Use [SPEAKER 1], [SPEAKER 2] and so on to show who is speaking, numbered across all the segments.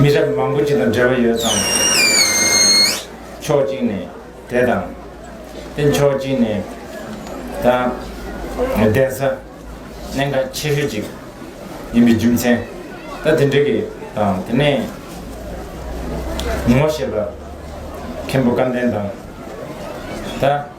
[SPEAKER 1] མི་རབས་མང་པོ་ཅིག་དང་འབྲེལ་བ་ཡོད་ཙང། ཕྱོགས་གཅིག་ནས་དེ་དང། དེ་ཕྱོགས་གཅིག་ནས་དང། གདན་ས་གནད་འགག་ཆེ་ཤོས་ཅིག་ཡིན་པའི་རྒྱུ་མཚན་ད་དེ་འདྲ་གི་དང་དེ་ནས་ངོ་ཤེས་པ་མཁན་པོ་བཀའ་བསྟན་དང། ད།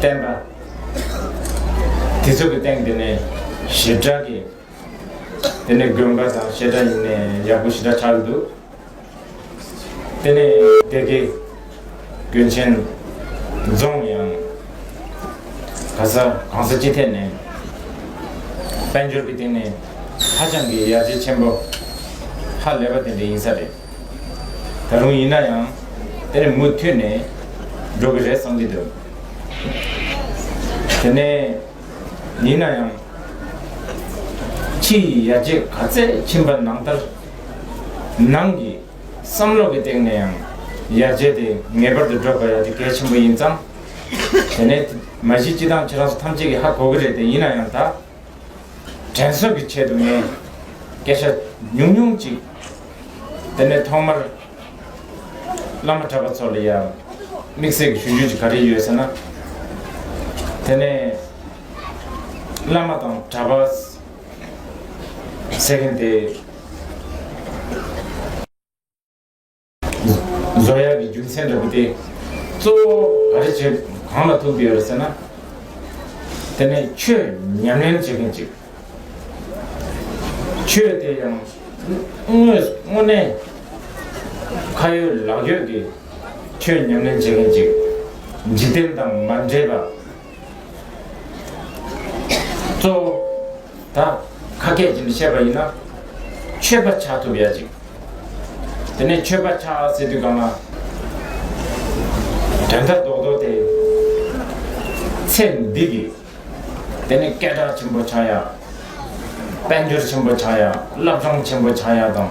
[SPEAKER 1] བསྟན་པ། དེ་ཚོ་གི་སྟེང་དེ་ནས་ཞིབ་ཕྲ་གི་དེ་ནས་དགོན་པ་དང་བཤད་གྲྭ་ཡིན་ནས་ཡག་པོ་ཞིབ་ཕྲ་ཆགས་ཀྱི་འདུག་དེ་ནས་སྡེ་དགེ་དགོན་ཆེན་རྫོང་ཡང་ག་ས་གང་ས་ཅི་ཐད་ནས་དཔལ་འབྱོར་གི་སྟེང་ནས་ཧ་ཅང་གི་ཡར་རྒྱས་ཆེན་པོ་ཧ་ལས་པ་དེ་འདྲ་ཡིན་ས་རེད། ད་རུང་ཡིན་ན་ཡང་དེར་མུ་མཐུད་ནས་འགྲོ་གི་རེད་བསམ་གྱི་འདུག་དེ་ནས་ཡིན་ན་ཡང་ཕྱི་ཡི་ཡར་རྒྱས་ག་ཚད་ཕྱིན་པ་ནང་ལྟར་ནང་གི་བསམ་བློ་གི་སྟེང་ནས་ཡང་ཡར་རྒྱས་དེ་ངེས་པར་དུ་འགྲོ་དགོས་ཡ་དེ་གལ་ཆེན་པོ་ཡིན་ཙང་དེ་ནས་མ་གཞི་སྤྱི་བཏང་ཁྱེད་རང་ཚོ་ཐམས་ཅད་ཀྱི་ཧ་གོ་གི་རེད་དེ་ཡིན་ན་ཡང་ད། དྲན་གསོ་གི་ཆེད་དུ་ངས་སྐད་ཆ་ཉུང་ཉུང་ཅིག། དེ་ནས་ཐོག་མར་བླ་མ་གྲྭ་པ་ཚོ་ལ་ཡང་དམིགས་བསལ་གྱི་ཞུ་རྒྱུ་ཅིག་ག་རེ་ཡོད་ཟེར་ན། དེ་ནས་བླ་མ་དང་གྲྭ་པ་ཟེར་མཁན་དེ། བཟོ་གཡག་གི་རྒྱུ་མཚན་འདྲ་པོ་སྟེ། གཙོ་བོ་ག་རེ་བྱེད་གང་ལ་ཐུག་འདི་ཡོད་ཟེར་ན། དེ་ནས་ཆོས་ཉམས་ལེན་བྱེད་མཁན་གཅིག། ཆོས་དེ་ཡང་དངོས་གནས་ཁ་ཡོད་ལག་ཡོད་ཀྱི་ཆོས་ཉམས་ལེན་བྱེད་མཁན་གཅིག། འཇིག་རྟེན་དང་མ་འདྲེས་པ། གཙོ་བོ། ད་ཁ་སྐད་ཀྱིས་འདི་བཤད་པ་ཡིན་ན། ཆོས་པ་ཆགས་ཐུབ་ཡ་ཅིག། དེ་ནས་ཆོས་པ་ཆགས་ཟེར་དུས་གང་ན། དོན་དག་རྡོག་རྡོག་དེ། ཚེ་འདི་གི། དེ་ནི་སྐད་གྲགས་ཆེན་པོ་ཆགས་ཡ། དཔལ་འབྱོར་ཆེན་པོ་ཆགས་ཡ་བླ་བྲང་ཆེན་པོ་ཆགས་ཡ་དང།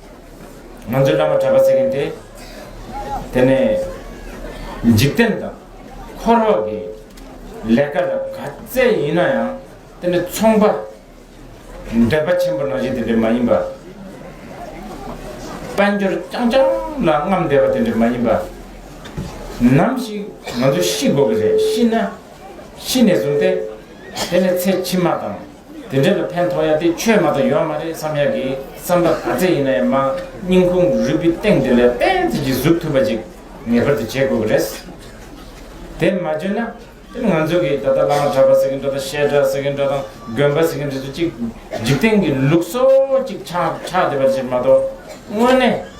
[SPEAKER 1] ང་ཚོའི་བླ་མ་གྲྭ་པ་ཟེར་མཁན་དེ། དེ་ནས་འཇིག་རྟེན་དང་འཁོར་བ་གི་ལས་ཀ་ལ་ག་ཚད་ཡིན་ན་ཡང་དེ་ནི་ཚོང་པ། འདོད་པ་ཆེན་པོ་ནང་བཞིན་དེ་འདྲ་མ་ཡིན་པ། དཔལ་འབྱོར་རྐྱང་རྐྱང་ལ་རྔམ་བསྡད་པ་དེ་འདྲ་མ་ཡིན་པ། ནམ་ཞིག་ང་ཚོ་ཤི་དགོས་ཀྱི་རེད་ཤི་ན་ཤི་ནས་བཟུང་སྟེ་དེ་ནས་ཚེ་ཕྱི་མ་དང། དེ་འདྲ་ལ་ཕན་ཐོགས་ཡ་དེ་ཆོས་མ་ཏོག་ཡོད་མ་རེད་བསམ་ཡག་གི་བསམ་པ་ག་ཚད་ཡིན་ན་ཡང་མ་སྙིང་ཁུང་རུས་པའི་སྟེང་དེ་ལས་དཔེ་མཛོད་ཀྱི་གཟུགས་ཐུབ་པ་ཅིག་ངེས་པར་དུ་བྱེད་དགོས་ཀྱི་རེད། དེ་མ་བྱོས་ན་དེ་ང་ཚོ་གི་ད་ལྟ་བླ་མ་གྲྭ་པ་ཟེར་གྱི་འགྲོ་དང་བཤད་གྲྭ་ཟེར་གྱི་འགྲོ་དང་དགོན་པ་ཟེར་གྱི་འགྲོ་ཚོ་ཅིག་འཇིག་རྟེན་གྱི་ལུགས་སྲོལ་ཅིག་ཆགས་ཆགས་བསྡད་པ་ཅིག་མ་ཏོག་དངོས་གནས་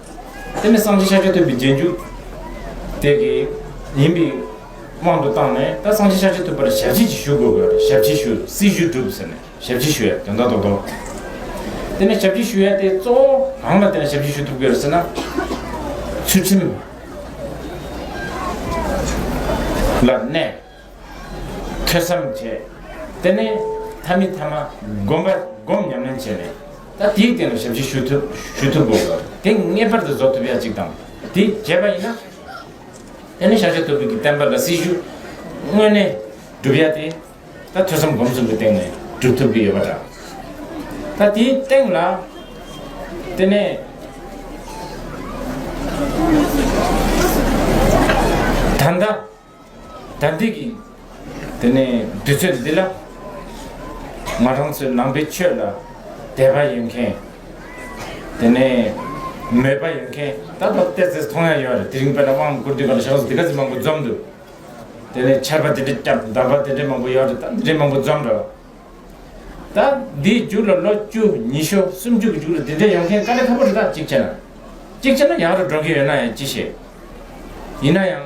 [SPEAKER 1] དེ་ནི་སངས་རྒྱས་ཤཱཀྱ་ཐུབ་པའི་རྗེས་འཇུག་དེ་གི་ཡིན་པའི་དབང་དུ་བཏང་ནས་ད་སངས་རྒྱས་ཤཱཀྱ་ཐུབ་པར་ཞབས་རྗེས་ཀྱི་ཞུ་དགོས་གི་རེད་ཞབས་རྗེས་ཞུ་སྲི་ཞུ་བསྒྲུབ་ཟེར་ནས་ཞབས་རྗེས་ཞུ་ཡ་དོན་དག་རྡོག་རྡོག་དེ་ནི་ཞབས་རྗེས་ཞུ་ཡ་དེ་གཙོ་བོ་གང་ལ་བརྟེན་ནས་ཞབས་རྗེས་ཞུ་ཐུབ་གི་རེད་ཟེར་ན། ཚུལ་ཁྲིམས་ལ་གནས། ཐོས་བསམ་བྱས། དེ་ནས་ཐ་མི་ཐ་མ་བསྒོམ་པ་བསྒོམ་ཉམས་ལེན་བྱས་ནས། ད་དེའི་སྟེང་ལ་ཞབས་ཕྱི་ཞུ་ཐུབ་ཞུ་ཐུབ་དགོས། དེ་ངེས་པར་དུ་རྫོགས་ཐུབ་ཡ་གཅིག་དང། དེ་བྱས་པ་ཡིན་ན། དེ་ནས་ཤཱ་ཀྱ་ཐུབ་དྲུག་གི་བསྟན་པ་ལ་སྲི་ཞུ་དངོས་གནས་སྒྲུབ་ཡ་སྟེ། ད་ཐོས་བསམ་སྒོམ་གསུམ་གྱི་སྟེང་ནས་སྒྲུབ་ཐུབ་ཀྱི་ཡོད་པ་འདྲ། ད་དེའི་སྟེང་ལ། དེ་ནས། ད་ལྟ། དམ་ཚིག་གིས། དེ་ནས་དུས་ཚོད་འདི་ལ། ང་རང་ཚོའི་ནང་པའི་ཆོས་ལ་དད་པ་ཡོད་མཁན། དེ་ནས་མོས་པ་ཡོད་མཁན། ད་ལྟ་བལྟས་ཚེ་མཐོང་ཡ་ཡོད་རེད་དེ་རིང་དཔལ་ནཱ་དབང་བསྐུར་དུས་ག་ལ་ཤག་སྡིག་ག་ཚི་མང་པོ་འཛོམས་འདུག་དེ་ནས་ཆར་པ་དེ་འདྲས་བསྐྱབས་འདམ་པ་དེ་འདྲས་མང་པོ་ཡོད་རེད་ད་འདི་འདྲས་མང་པོ་འཛོམས་རེད་བ། ད་འདིའི་རྒྱུགས་ལ་ལོ་བཅུ་ཉི་ཤོ་སུམ་ཅུ་གི་རྒྱུགས་ལ་དེ་འདྲས་ཡོང་མཁན་དཀའ་ལས་ཁ་པོ་རེད་ད་གཅིག་བྱས་ན། གཅིག་བྱས་ན་ཡག་རེད་འགྲོ་མཁན་ཡོད་ན་ཡང་ཅི་ཤེས། ཡིན་ན་ཡང།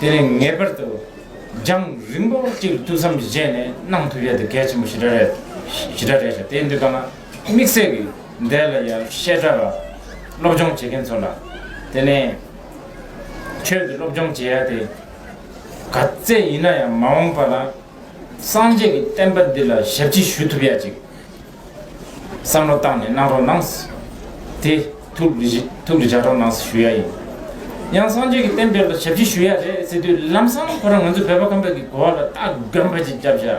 [SPEAKER 1] དེ་ནས་ངེས་པར་དུ་རྒྱང་རིང་པོ་གཅིག་ལ་ཐུགས་བསམ་གྱིས་བཞེས་ནས་གནང་ཐུབ་ཡས་དེ་གལ་ཆེན་པོ་ཞེ་དྲག་རེད། ཞེ་དྲག་རེད་ཤག་དེ་འདི་ལྟར་ན་དམིགས་བསལ་གྱི་འདས་ལ་ཡང་བཤད་གྲྭ་ལ་སློབ་སྦྱོང་བྱེད་མཁན་ཚོ་ལ་དེ་ནས་ཁྱོད་ཀྱི་སློབ་སྦྱོང་བྱེད་ཡ་དེ་ག་ཚད་ཡིན་ན་ཡང་མ་འོངས་པ་ལ་སངས་རྒྱས་ཀྱི་བསྟན་པ་འདི་ལ་ཞབས་ཕྱི་ཞུ་ཐུབ་ཡ་ཅིག་བསམ་བློ་བཏང་ནས་གནང་རོགས་གནང། དེ། ཐུགས་རེ་བཞག་རོགས་གནང་ཞུ་ཡ་ཡིན། ཡང་སངས་རྒྱས་ཀྱི་བསྟན་པའི་ལ་ཞབས་ཕྱི་ཞུ་ཡ་རེད་ཟེར་དུས་ལམ་སང་ཁོ་རང་ང་ཚོ་བོད་པ་ཁམས་པའི་གི་གོ་བ་ལ་སྟག་སྒམ་པ་ཅིག་བརྒྱབ་བཞག་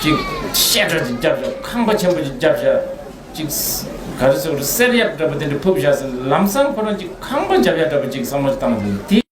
[SPEAKER 1] ཅིག། བཤད་གྲྭ་ཅིག་བརྒྱབ་བཞག་ཁང་པ་ཆེན་པོ་ཅིག་བརྒྱབ་བཞག་ཅིག། ག་རེ་སོགས་རེད་གསེར་ཡག་འདྲ་པོ་དེ་འདྲ་ཕུབ་བཞག་ཟེར་ལམ་སང་ཁོ་རང་ཅིག་ཁང་པ་འཇབ་ཡག་འདྲ་པོ་ཅིག་བསམ་བློ་བཏང་ཟེར་དུས་དེ།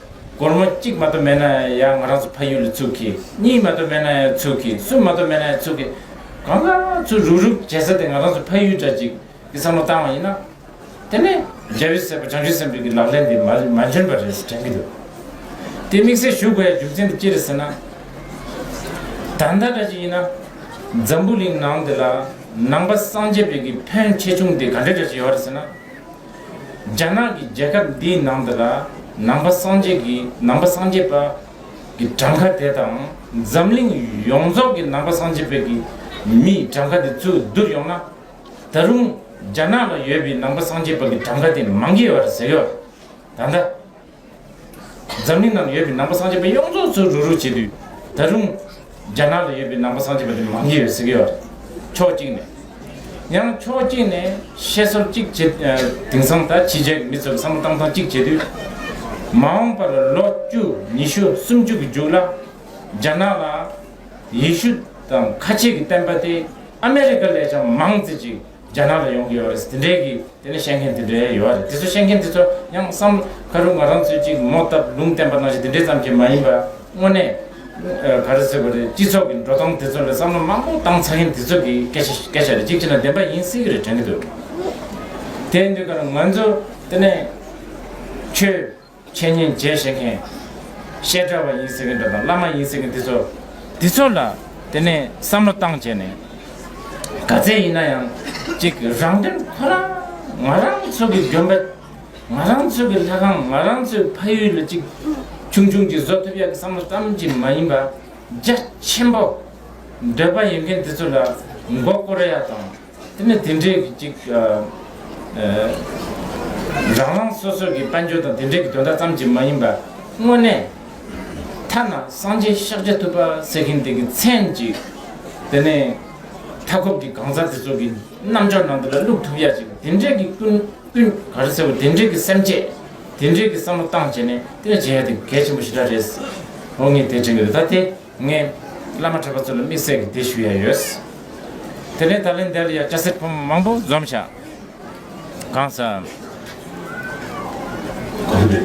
[SPEAKER 1] སྒོར་མོ་གཅིག་མ་གཏོགས་མེད་ན་ཡང་ང་རང་ཚོ་ཕ་ཡུལ་ལ་ཚུགས་གི། གཉིས་མ་གཏོགས་མེད་ན་ཡང་ཚུགས་གི། གསུམ་མ་གཏོགས་མེད་ན་ཡང་ཚུགས་གི། གང་ལ་ཚུགས་རུག་རུག་བྱེད་ས་དེ་ང་རང་ཚོ་ཕ་ཡུལ་འདྲ་ཅིག་གི་བསམ་བློ་བཏང་བ་ཡིན་ན། དེ་ནི་རྒྱལ་བའི་སྲས་པོ་བྱང་ཆུབ་སེམས་དཔའི་གི་ལག་ལེན་དེ་མ་མ་འཇོན་པ་རེད་དྲན་གི་འདུག། དེ་དམིགས་བསལ་ཞུ་དགོས་ཡ་རྒྱུ་མཚན་དེ་ཅི་རེད་ཟེར་ན། ད་ལྟ་འདྲ་ཅིག་ཡིན་ན། འཛམ་བུ་གླིང་ནང་འདི་ལ་ནང་པ་སངས་རྒྱས་པའི་གི་ཕོན་ཆེ་ཆུང་དེ་ག་འདྲ་འདྲ་ཅིག་ཡོད་རེད་ཟེར་ན། རྒྱ་ནག་གི་རྒྱལ་ཁབ་འདིའི་ནང་དུ་ལ་ནང་པ་སངས་རྒྱས་ཀྱི་ནང་པ་སངས་རྒྱས་པ་གི་གྲངས་ཁ་དེ་དང་འཛམ་གླིང་ཡོངས་རྫོགས་ཀྱི་ནང་པ་སངས་རྒྱས་པའི་གི་མི་ཡི་གྲངས་ཁ་དེ་ཚུར་བསྡུར་ཡོང་ན། ད་རུང་རྒྱ་ནག་ལ་ཡོད་པའི་ནང་པ་སངས་རྒྱས་པ་གི་གྲངས་ཁ་དེ་མང་གི་ཡོད་རེད་ཟེར་གི་ཡོད། ད་ལྟ་འཛམ་གླིང་ནང་ཡོད་པའི་ནང་པ་སངས་རྒྱས་པ་ཡོངས་རྫོགས་ཚུར་རུག་རུག་བྱེད་དུས། ད་རུང། རྒྱ་ནག་ལ་ཡོད་པའི་ནང་པ་སངས་རྒྱས་པ་དེ་མང་གི་ཡོད་ཟེར་གི་ཡོད་རེད། ཕྱོགས་གཅིག་ནས། ཡང་ཕྱོགས་གཅིག་ནས་བཤད་སྲོལ་གཅིག་བྱེད། དེང་སང་ད་ཕྱི་རྒྱལ་གྱི་མི་ཚོས་བསམ་བློ་བཏང་ཐང་གཅིག་བྱེད་དུས། མ་འོངས་པར་ལོ་བཅུ་ཉི་ཤུ་སུམ་ཅུ་གི་མཇུག་ལ། རྒྱ་ནག་ལ། ཡེ་ཤུ་དང་ཁ་ཆེ་གི་བསྟན་པ་དེ་ཨ་མེ་རི་ཀ་ལས་ཀྱང་མང་བརྩི་ཅིག། རྒྱ་ནག་ལ་ཡོང་གི་ཡོད་རེད། དེ་འདྲའི་གི་དེ་ནས་བཤད་མཁན་དེ་འདྲའི་ཡོད་རེད། དེ་ཚོ་བཤད་མཁན་དེ་ཚོ་ཡང་བསམ་ཁ་རུ་ང་རང་ཚོའི་ཅིག་མོ་སྟབས་ལུང་བསྟན་པ་གནང་བཞིན་དེ་འདྲའི་ཙམ་གྱིས་མ་ཡིན་པ་དངོས་གནས། ག་རེ་ཟེར་དགོས་རེད་སྤྱི་ཚོགས་ཀྱི་འགྲོ་སྟངས་དེ་ཚོ་ལ་བསམ་བློ་མང་པོ་བཏང་ཚར་མཁན་དེ་ཚོ་གི་སྐད་ཆ་སྐད་ཆ་རེད་ཅིག་བྱས་ན་བདེན་པ་ཡིན་སྲིད་གི་རེད་དྲན་གི་འདུག་དེ་འདུག་ག་རེད་ང་ཚོ་དེ་ནས་ཁྱོད། འཆད་ཉན་རྒྱས་བཤད་མཁན། བཤད་གྲྭ་བ་ཡིན་ཟེར་མཁན་དང་བླ་མ་ཡིན་ཟེར་མཁན་འདི་ཚོ། འདི་ཚོ་ལ་དེ་ནས་བསམ་བློ་བཏང་བྱས་ནས། ག་ཚད་ཡིན་ན་ཡང་ཅིག་རང་དོན་ཁོ་རང། ང་རང་ཚོ་གི་དགོན་པ། ང་རང་ཚོ་གི་ལྷ་ཁང་ང་རང་ཚོའི་ཕ་ཡུལ་ལ་ཅིག་ཆུང་ཆུང་གཅིག་བཟོ་ཐུབ་ཡག་གི་བསམ་བློ་ཙམ་གྱིས་མ་ཡིན་པ། རྒྱ་ཆེན་པོ། འདོད་པ་ཡོད་མཁན་འདི་ཚོ་ལ་མགོ་བསྐོར་ཡག་དང། དེ་ནི་དེ་འབྲེལ་གྱི་གཅིག། རང་རང་སོ་སོ་གྱི་དཔལ་འབྱོར་དང་དེ་འབྲེལ་གྱི་དོན་དག་ཙམ་གྱིས་མ་ཡིན་པར། དངོས་གནས། ཐ་ན་སངས་རྒྱས་ཤཱཀ་ཇཱ་ཐུབ་པ་ཟེར་མཁན་དེ་གི་མཚན་གཅིག། དེ་ནས། མཐའ་འཁོབ་ཀྱི་གང་ཟག་དེ་ཚོ་གི་རྣམ་འཇོག་ནང་དུ་ལ་བླུགས་ཐུབ་ཡ་ཅིག་དེ་འབྲེལ་གྱི་ཀུན། ཀུན། ག་རེ་ཟེར་བ་དེ་འབྲེལ་གྱི་སེམས་བསྐྱེད། དེ་འབྲེལ་གྱི་བསམ་བློ་བཏང་བྱས་ནས་དེ་འདྲ་བྱེད་ཡ་དེ་གལ་ཆེན་པོ་ཞིག་ར་རེད། འོ་ངས་དེ་དྲན་གི་རེད་ད་དེ། ངས་བླ་མ་གྲྭ་པ་ཚོ་ལ་དམིགས་བསལ་གྱི་དེ་ཞུ་ཡ་ཡོད། དེ་ནས་ད་ལན་འདིར་ཡང་སྐྱ་སེར་ཕོ་མོ་མང་པོ་འཛོམས་བྱ། གང་ཟག། གོང་དུ།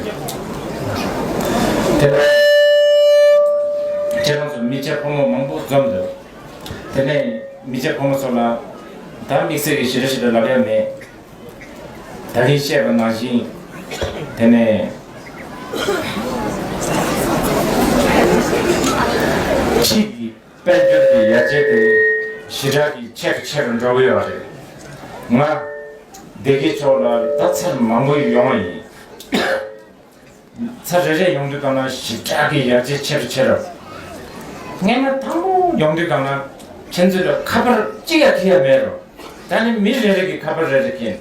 [SPEAKER 1] དེ་ནས། ཁྱེད་རང་ཚོ་མི་སྐྱ་ཕོ་མོ་མང་པོ་འཛོམས་འདུག་དེ་ནས་མི་སྐྱ་ཕོ་མོ་ཚོ་ལ། ད་དམིགས་བསལ་གྱི་ཞི་ར་ཞིག་ལ་ལབ་ཡ་མེད། ད་གིན་བཤད་པ་ནང་བཞིན་དེ་ནས། ཕྱིས་ཀྱི་དཔལ་འབྱོར་གྱི་ཡ་གྱལ་དེ་ཞི་དྲག་གིས་ཆེ་རུ་ཆེ་རུ་འགྲོ་གི་ཡོད་རེད། ང། སྡེ་དགེ་ཕྱོགས་ལ་ད་ཚར་མང་པོ་ཡོང་བ་ཡིན། ཚ་རེ་རེ་ཡོང་དུས་དང་ན་ཞིབ་ཕྲ་གི་ཡར་རྒྱས་ཆེ་རུ་ཆེ་རབས། རྔན་མ་དང་པོ་ཡོང་དུས་དང་ན་ཁྱེད་ཚོས་ལ་ཁ་པར་གཅིག་ཡ་ཐི་ཡ་མེད་རོ། ད་ནི་མི་རེ་རེ་གི་ཁ་པར་རེ་རེ་ཀྱིན།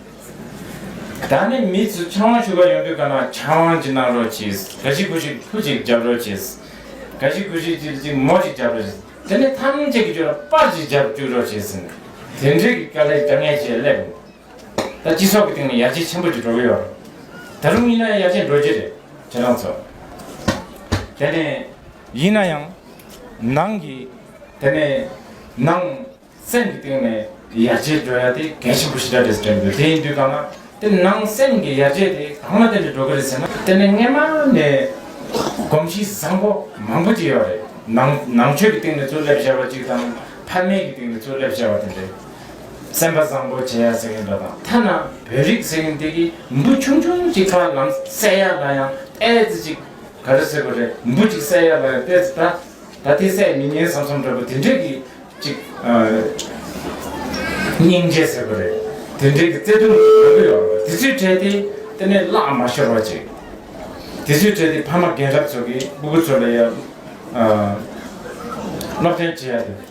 [SPEAKER 1] ད་ནི་མི་ཚོས་ཕྱག་དབང་ཞུ་ག་ཡོང་དུས་དང་ན་ཕྱག་དབང་ཅིག་གནང་རོགས་གྱིས་ག་ཞིག་གུ་ཞིག་ཕུ་ཅིག་བརྒྱབ་རོགས་གྱིས། ག་ཞིག་གུ་ཞིག་ཅིག་ཅིག་མོ་ཅིག་བརྒྱབ་རོགས་གྱིས། དེ་ནི་ཐམས་ཅད་ཀྱི་ཇོ་ལ་པར་ཅིག་བརྒྱབ་བཅུག་རོགས་གྱིས། དེ་འདྲའི་གི་དཀའ་ལས་དཀའ་ངལ་ཅིག་སླེབས། ད་སྤྱི་ཚོགས་ཀྱི་སྟེང་ནས་ཡར་རྒྱས་ཆེན་པོ་ཅིག་འགྲོ་གི་ཡོད། ད་རུང་ཡིན་ན་ཡང་ཡར་རྒྱས་འགྲོ་རྒྱུ་རེད་ཁྱེད་རང་ཚོ། དེ་ནས། ཡིན་ན་ཡང། ནང་གི། དེ་ནས། ནང། སེམས་ཀྱི་སྟེང་ནས་ཡར་རྒྱས་འགྲོ་ཡག་དེ་གལ་ཆེན་པོ་ཞིག་རེད་ཟེར་གྱི་འདུག་དེ་ཡིན་དུས་གང་ན་དེ་ནང་སེམས་ཀྱི་ཡར་རྒྱས་དེ་གང་ལ་བརྟེན་ནས་འགྲོ་གི་རེད་ཟེར་ན། དེ་ནས་སྔ་མ་ནས། གོམས་གཤིས་བཟང་པོ་མང་པོ་ཅིག་ཡོད་རེད། ནང་ནང་ཆོས་ཀྱི་སྟེང་ནས་གཙུག་ལབ་བཞག་པ་ཅིག་དང་ཕ་མེས་ཀྱི་སྟེང་ནས་གཙུག་ལབ་བཞག་པ་དེ་འདྲའི། སེམས་པ་བཟང་པོ་བྱེད་ཡག་ཟེར་གྱིན་འདུག་དང་ཐ་ན་བོད་རིགས་ཟེར་གྱིན་དེ་གིས་འབུ་ཆུང་ཆུང་གཅིག་ཁ་ལམ་བསད་ཡག་ལ་ཡང་ཨེ་ཙི་ཅིག་ག་རེ་ཟེར་བ་རེད་འབུ་གཅིག་བསད་ཡག་ལ་ཡང་ཨེ་ཙི་ད་ད་དེ་བསད་མི་ཉན་བསམ་བསམ་འདྲ་པོ་དེ་འདྲས་ཀྱིས་ཅིག་སྙིང་རྗེ་ཟེར་བ་རེད་དེ་འདྲས་ཀྱིས་བརྩེ་དུང་གི་ལམ་བུ་ཡོད་རེད་དེ་ཚོའི་གྲས་དེ་དེ་ནས་བརླག་མ་ཤོར་བ་ཅིག་དེ་ཚོའི་གྲས་དེ་ཕ་མ་རྒན་རབས་ཚོ་གིས་སྤུ་གུ་ཚོ་ལ་ཡང་སློབ་སྟོན་བྱེད་ཡག་དེ།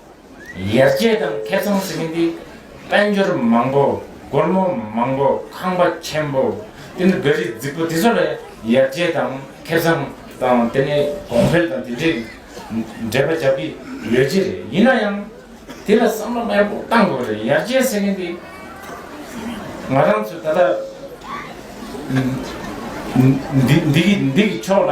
[SPEAKER 1] ཡར་རྒྱས་དང་ཁེ་ཚོང་ཟེར་མཁན་དེ་དཔལ་འབྱོར་མང་པོ་སྒོར་མོ་མང་པོ་ཁང་པ་ཆེན་པོ་དེ་ནི་ག་རེ་རྫིག་པོ་དེ་ཚོ་ལ་ཡར་རྒྱས་དང་ཁེ་ཚོང་དང་དེ་ནི་གོང་འཕེལ་དང་དེ་འདྲའི་འགྲེལ་པ་རྒྱག་གི་ཡོད་ཀྱི་རེད་ཡིན་ན་ཡང་དེ་ལ་བསམ་བློ་ཡག་པོ་གཏང་དགོས་རེད་ཡར་རྒྱས་ཟེར་མཁན་དེ་ང་རང་ཚོ་ད་ལྟ་འདི་འདི་གི་འདི་གི་ཕྱོགས་ལ།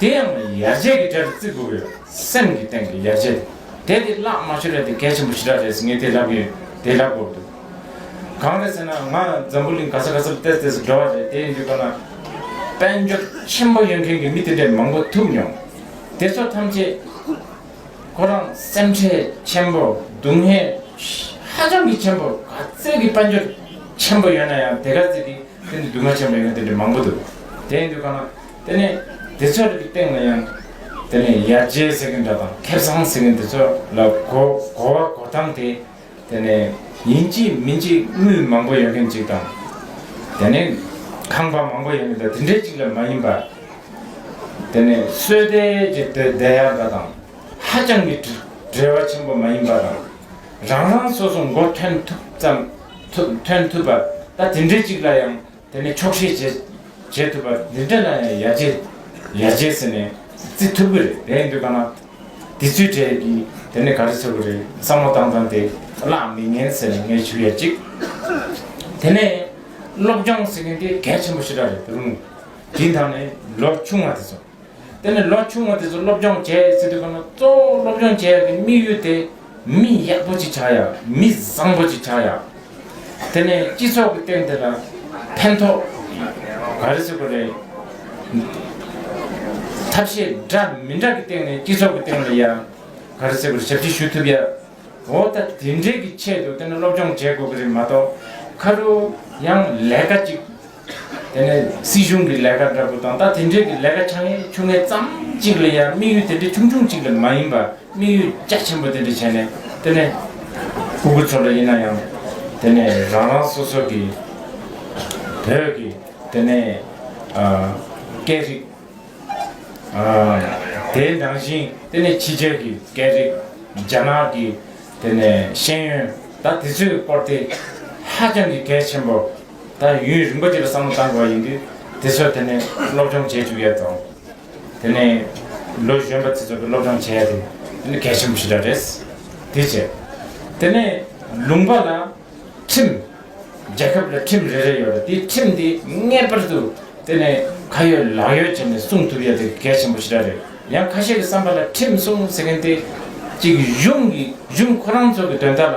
[SPEAKER 1] དེ་ཡང་ཡར་རྒྱས་ཀྱི་གྲལ་དུ་བརྩི་དགོས་པའི་སེམས་ཀྱི་སྟེང་གི་ཡར་རྒྱས་དེ། དེ་བླ་མ་ཤོ་རེ་དེ་གལ་ཆེན་པོ་ཞི་དྲག་རེད་ཟེར་ངས་དེ་ལབ་ཀྱི་ཡོད་དེ་ལབ་དགོས་འདུག་གང་རེད་ཟེར་ན་ང་འཛམ་བུ་གླིང་ག་ས་ག་སར་བལྟས་བལྟས་སུ་འགྲོ་བ་རེད་དེ་ཡིན་དུས་ཁོ་ན་དཔལ་འབྱོར་ཆེན་པོ་ཡོད་མཁན་གྱི་མི་དེ་འདྲས་མང་པོ་ཐུག་མྱོང། དེ་ཚོ་ཐམས་ཅད་ཁོ་རང་སེམས་ཁྲལ་ཆེན་པོ་སྡུག་བསྔལ་ཧ་ཅང་གི་ཆེན་པོ་ག་ཚད་ཀྱི་དཔལ་འབྱོར་ཆེན་པོ་ཡོད་ན་ཡང་དེ་ག་ཚད་ཀྱི་དེ་འདྲའི་སྡུག་བསྔལ་ཆེན་པོ་ཡོད་མཁན་དེ་འདྲས་མང་པོ་འདུག་དེ་ཡིན་དུས་ཁོ་ན་དེ་ནས་དེ་ཚོའི་རིགས་སྟེང་ལ་ཡང། དེ་ནས་ཡར་རྒྱས་ཟེར་གྱི་འདྲ་དང་ཁེ་བཟང་ཟེར་གྱི་འདི་ཚོ་ལ་གོ་གོ་བ་གོ་སྟངས་དེ། དེ་ནས་ཡིན་གཅིག་མིན་གཅིག་དངུལ་མང་པོ་ཡོད་མཁན་གཅིག་དང། དེ་ནས་ཁང་པ་མང་པོ་ཡོད་མཁན་དང་དེ་འདྲའི་གཅིག་ལ་མ་ཡིན་པར། དེ་ནས་བསོད་བདེ་ཀྱི་དོད་བདེ་ཡག་འདྲ་དང་ཧ་ཅང་གི་བྲེལ་བ་ཆེན་པོ་མ་ཡིན་པ་དང། རང་རང་སོ་སོ་མགོ་ཐོན་ཐུབ་ཙམ་ཐོན་ཐུབ་པ་ད་དེ་འདྲའི་གཅིག་ལ་ཡང་དེ་ནས་ཆོག་ཤེས་བྱེད་བྱེད་ཐུབ་པ་འདི་འདྲ་ན་ཡང་ཡར་རྒྱས་ཡར་རྒྱས་ཟེར་ནས་བརྩི་ཐུབ་ཀྱི་རེད་དེ་འདུག་ག་ན་དེ་ཚོའི་གྲས་ཀྱིས་དེ་ནས་ག་རེ་ཚོར་གྱི་རེད་བསམ་བློ་བཏང་བཏང་དེ་གླགས་མི་ཉན་ཟེར་ནས་ངས་ཞུ་ཡ་གཅིག་དེ་ནས་སློབ་སྦྱོང་ཟེར་མཁན་དེ་གལ་ཆེན་པོ་ཞེ་དྲག་རེད་རུང་དེའི་མཐའ་ནས་ལོ་ཆུང་བ་དེ་ཚོ། དེ་ནས་ལོ་ཆུང་བ་དེ་ཚོ་སློབ་སྦྱོང་བྱས་ཟེར་དུས་ཁོ་ན་གཙོ་བོ་སློབ་སྦྱོང་བྱེད་ཡག་གི་དམིགས་ཡུལ་དེ་མི་ཡག་པོ་ཅིག་ཆགས་ཡག་མི་བཟང་པོ་ཅིག་ཆགས་ཡག་དེ་ནས་སྤྱི་ཚོགས་ཀྱི་སྟེང་དེ་ལ་ཕན་ཐོགས་ག་རེ་བྱེད་དགོས་རེད། ཐབས་ཤེས་འདྲ་མི་འདྲ་གི་སྟེང་ནས་སྤྱི་ཚོགས་ཀྱི་སྟེང་ལ་ཡང་ག་རེ་བྱེད་དགོས་རེད་ཞབས་ཕྱི་ཞུ་ཐུབ་ཡག་འོ་ད་དེ་འདྲའི་གི་ཆེད་དུ་དེ་ནས་སློབ་སྦྱོང་བྱེད་དགོས་ཀྱི་རེད་མ་གཏོགས་ཁ་རུ་ཡང་ལས་ཀ་ཅིག་དེ་ནས་སྲིད་གཞུང་གི་ལས་ཀ་འདྲ་པོ་དང་ད་དེ་འདྲའི་གི་ལས་ཀ་ཆ་ངེ་ཆུང་ངེ་ཙམ་གཅིག་ལ་ཡ་དམིགས་ཡུལ་དེ་འདྲའི་ཆུང་ཆུང་གཅིག་ལ་མ་ཡིན་པར་དམིགས་ཡུལ་རྒྱ་ཆེན་པོ་དེ་འདྲ་བྱས་ནས་དེ་ནས་སྤུ་གུ་ཚོ་འདྲ་ཡིན་ན་ཡང་དེ་ནས་རང་རང་སོ་སོ་གི་བོད་ཀྱི་དེ་ནས་སྐད་རིགས་དེ་འདང་བཞིན་དེ་ནས་ཕྱི་རྒྱལ་གི་སྐད་རིགས་རྒྱ་ནག་གི་དེ་ནས་ཤེས་ཡོན་ད་དེ་ཚོའི་སྐོར་དེ་ཧ་ཅང་གི་གལ་ཆེན་པོ། ད་ཡུན་རིང་པོ་དེ་ལ་བསམ་བློ་གཏང་དགོས་པ་ཡིན་དུས་དེ་ཚོ་དེ་ནས་སློབ་སྦྱོང་བྱེད་བཅུག་ཡོད་དོ། དེ་ནས་ལོ་གཞོན་པ་དེ་ཚོ་སློབ་སྦྱོང་བྱས་ཏེ་དེ་ནི་གལ་ཆེན་པོ་ཞིག་འདྲ་རེད། དེ་བྱས། དེ་ནས་ལུང་པ་ལ་ཁྲིམས། རྒྱལ་ཁབ་ལ་ཁྲིམས་རེ་རེ་ཡོད་རེད་དེ་ཁྲིམས་དེ་ངེས་པར་དུ་དེ་ནས་ཁ་ཡོད་ལག་ཡོད་བྱས་ནས་སྲུང་ཐུབ་ཡོད་དེ་གལ་ཆེན་པོ་ཞིག་འདྲ་རེད། ཡང་ཁ་ཤས་ཀྱི་བསམ་པ་ལ་ཁྲིམས་སྲུང་ཟེར་མཁན་དེ་གཅིག་གཞུང་གི་གཞུང་ཁོ་རང་ཚོ་གི་དོན་དག་ལ།